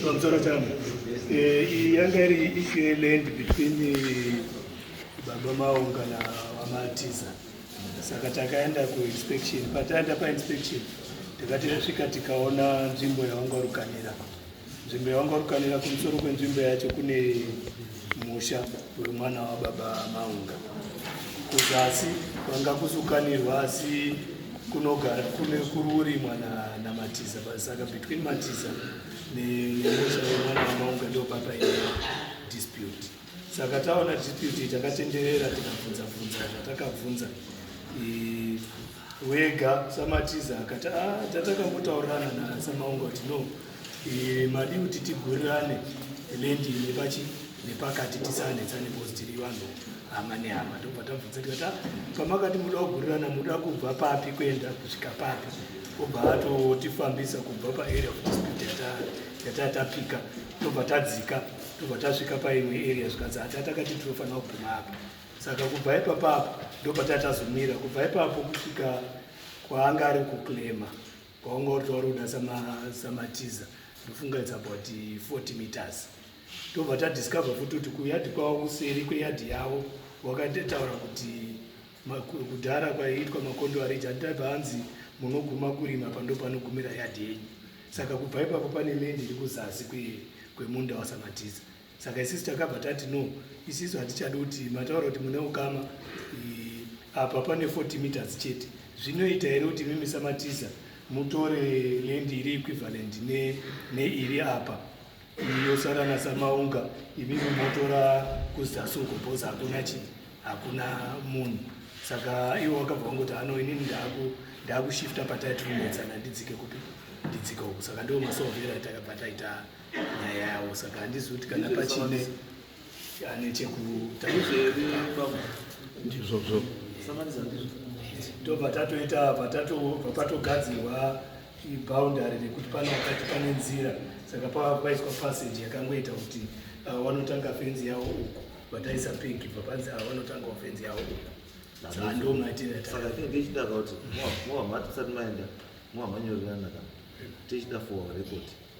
pamusoro changu eh, yanga iri ishu yeland between eh, baba maunga na vamatiza saka takaenda kuinspection pataenda painspection takati tasvika tikaona nzvimbo yaungarukanira Nzvimbo yavangarukanira kumusoro kwenzvimbo yacho kune musha wemwana wababa Maunga. Kuzasi kwanga kusukanirwa asi kunogara kune kururimwa naMatiza na saka between Matiza nemusha wemwana wamaunga ndopapa dispute saka taona dispute takatenderera tikabvunza bvunza zvatakabvunza wega samatiza akati ah, tatakambotaurana nasamaunga kuti no e, madi kuti tigurirane lendi nepachi nepakati tisanetsane bcause tiri vanhu hama nehama ndobva tabvunza tikati ah, pamakati muda kugurirana muda kubva papi kuenda kusvika papi obva atotifambisa kubva paarea of dispute yatatapika tobva tadzika tobva tasvika paimwe area zvikanzi hatatakati tinofanira kuguma apa saka kubva ipapapo ndopataya tazomira kubva ipapo kusvika kwaanga ari kuclema kwaunga uri tauri kuda samatiza ndofunga it's about 40 meters tobva tadiscover futi kuti kuyadhi kwavo kuseri kweyadhi yavo wakatotaura kuti kudhara kwaiitwa makondo ariji andibva anzi munoguma kurima pando panogumira yadhi yenyu saka kubva ipapo pane mende iri kuzasi kwemunda wasamatiza saka isisu takabva tati no isisu hatichadi kuti mataura kuti mune ukama apa pane 40 meters chete zvinoita here kuti mimi samatiza mutore lendi iri equivalent neiri ne apa yosara nasamaunga imimi motora kuzasungobos hakuna chii hakuna munhu saka iwo wakabva wangoti ano inini ndakushifta pataiti kunetsana ndidzike kupi ndidzike uku saka ndiwo masohvera takabva taita nyaya yawo saka handizi kuti kana pachine ane chekutandizvozvo tobva tatoita patogadzirwa iboundary rekuti pane wakati pane nzira saka pava kwaiswa passage yakangoita kuti vanotanga uh, fenzi yawo uku vataisa pinki bva panzi ava vanotanga fenzi yawo uku saka ndo maitire saka tinge tichida kuti mova mati musati maenda mova manyorerana kana tichida for record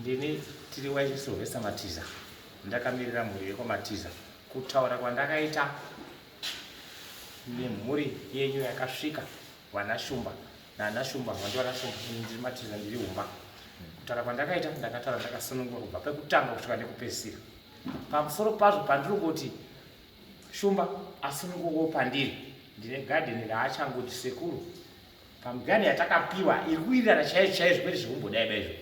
ndini tiri waisovesa matiza ndakamirira mhuri yekwamatiza kutaura kwandakaita nemhuri yenyu yakasvika vanashumba nana shumba vanti vana shumba ndiri matiza ndiri humba kutaura kwandakaita ndakataura ndakasunungura kubva pekutanga kusvika nekupedzisira pamusoro pazvo pandiri kuti shumba asunungukawo pandiri ndine gadheni raachangoti sekuru pamugani yatakapiwa iri kuwirirana chaizvo chaizvo kwete zvekumbodai daizvo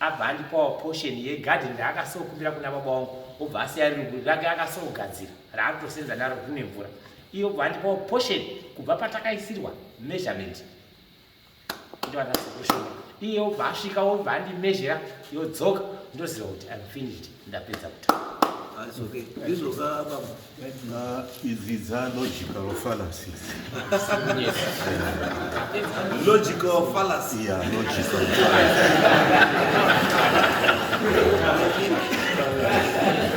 abva andipawo portion yegarden raakasokumbira kuna baba wangu obva asiya riri rake akasogadzira raaritosenza naro rine mvura iyo obva andipawo portion kubva patakaisirwa measurement ndivanasekushoma iye obva asvika obva andimezhera yodzoka ndoziva kuti im finished ndapedza kutaura idzi dza logical fallacies logical fallacy yeah logical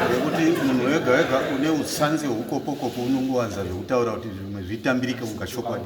nekuti munhu wega wega une utsanzi hweukopokopo unongowanza zvekutaura kuti zvimwe zvitambirike mukachokwadi